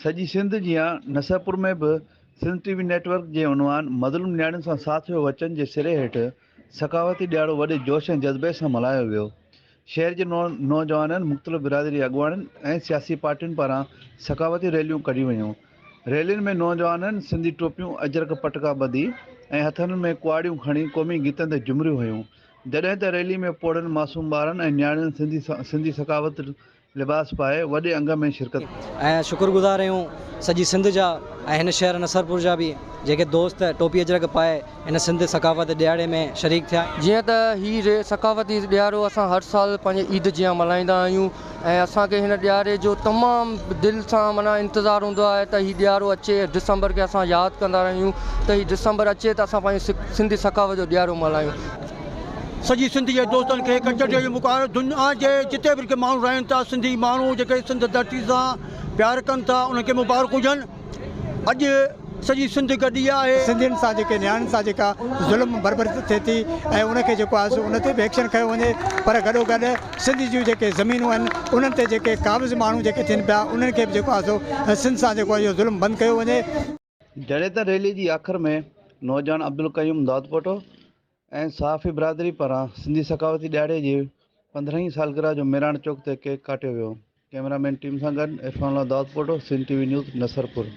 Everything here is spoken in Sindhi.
سڄي سنڌ جيان نصرپور ۾ به Sindh T V network جي عنوان مظلوم نياڻين سان ساٿ ويو وچن جي سري هيٺ ثقافتي ڏيهاڙو وڏي جوش ۽ جذبي سان ملهايو ويو. شهر جي نوجوانن، مختلف برادري اڳواڻن ۽ سياسي پارٽين پاران ثقافتي ريليون ڪڍيون ويون. ريلين ۾ نوجوانن سنڌي ٽوپيون، اجرڪ پٽڪا ٻڌي ۽ هٿن ۾ ڪهاڙيون کڻي قومي گيتن تي جهومريون هنيون. جڏهن ته ريلي ۾ پوڙهن معصوم ٻارن ۽ نياڻين سنڌي ثقافت لباس پائي وڏي انگ ۾ شرڪت ڪئي. ۽ شڪر گذار اهيون سڄي سنڌ جا ۽ هن شهر نصرپور جا به جيڪي دوست ٽوپي اجرڪ پائي هن سنڌ ثقافت ڏيهاڙي ۾ شريڪ ٿيا. جيئن ته هي ثقافتي ڏيهاڙو اسان هر سال پنهنجي عيد جيان ملهائيندا آهيون ۽ اسان کي هن ڏيهاڙي جو تمام دل سان معنيٰ انتظار هوندو آهي ته هي ڏيهاڙو اچي ڊسمبر کي اسان ياد ڪندا رهيون ته هي ڊسمبر اچي ته اسان پنهنجي سنڌي ثقافت جو ڏيهاڙو ملهايون. سڄي سنڌ جي دوستن کي ڪچهريء جي موقعو آيو. دنيا جي جتي به جيڪي ماڻهو رهن ٿا، سنڌي ماڻهو جيڪي سنڌ ڌرتي سان پيار ڪن ٿا، انهن کي مبارڪون هجن. اڄ سڄي سنڌ گڏي آهي. سنڌين سان جيڪي نياڻين سان جيڪا ظلم بربري ٿئي ٿي ۽ ان کي جيڪو آهي سو ان تي به ايڪشن کنيو وڃي پر گڏوگڏ سنڌ جون جيڪي زمينون آهن انهن تي جيڪي قابض ماڻهو جيڪي ٿين پيا انهن کي به جيڪو آهي سو سنڌ سان جيڪو اهو ظلم بند ڪيو وڃي. جڏهن ته ريلي جي آخر ۾ نوجوان عبدالقيوم دادپوٽو ۽ صحافي برادري پاران سنڌي ثقافتي ڏهاڙي جي پندرهين سالگرهه جو ميراڻ چوڪ تي ڪيڪ ڪاٽيو ويو. ڪئميرا مين ٽيم سان گڏ Irfan Ullah Dadpoto, Sindh T V news, Nasarpur.